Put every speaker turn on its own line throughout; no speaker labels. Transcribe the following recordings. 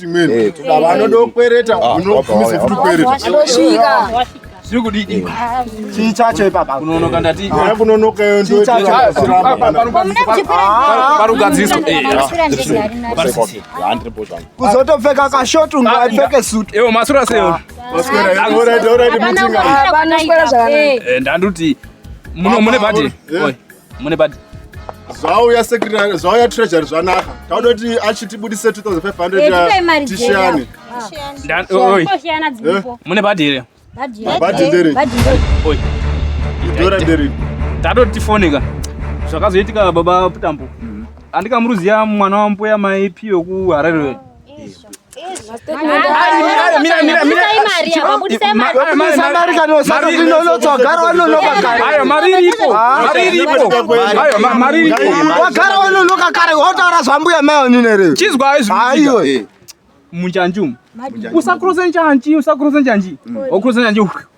Hey, vanodokwereta unofumisa kuti kwereta chiri kudiki eh. chii chacho ipapa kunonoka ndati ah, kunonoka iyo ndoparugadziswa kuzotopfeka kashot unga aipfeke sut ewo masura seyo ndanduti muno mune bhati mune bag zvauya secretary zvauya treasury zvanaka tauda kuti achitibudise 2500 tishiyane mune bhadhi here bhadhi ndere idhora ndere tatoti tifoneka zvakazoitika baba putambo andikamuruziya mwana wambuya maipi wekuharare wagara wanonoka kare wotaura zvambuya maonine muchanjumu usakurose njanji usakurose njanji wakurose njanji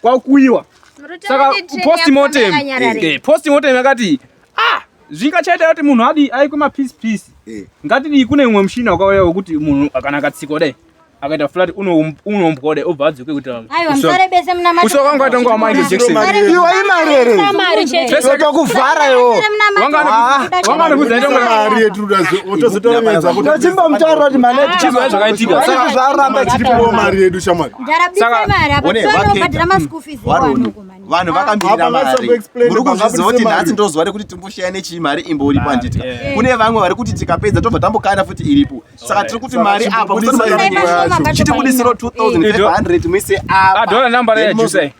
kwakuiwa saka postmortem eh, postmortem yakati ah zvingachaita kuti munhu adi aikwe mapiece piece eh. ngatidii kune umwe mushina wakauya wekuti munhu kana akatsikwa dai akaita flat unombwa dai obva adzoke kuti kusoka wanga atanga wamaindi jekiseniiwa imari ere zveseka kuvhara iwo wanga anokudza itomari yetudaotozotoemedza kuti chimbamutaura kuti mari yedu chizvaa zvakaitika saka zvaramba chiri kuwo mari yedu shamwari vanhu vakamirira mari muri kuzviziva kuti nhasi ndozuva rekuti timboshaya nechii mari imbori panditya eh. kune vamwe vari kuti tikapedza tobva tambokana futi iripo saka tiri kuti mari apa chitibudisiro 2500 muise apa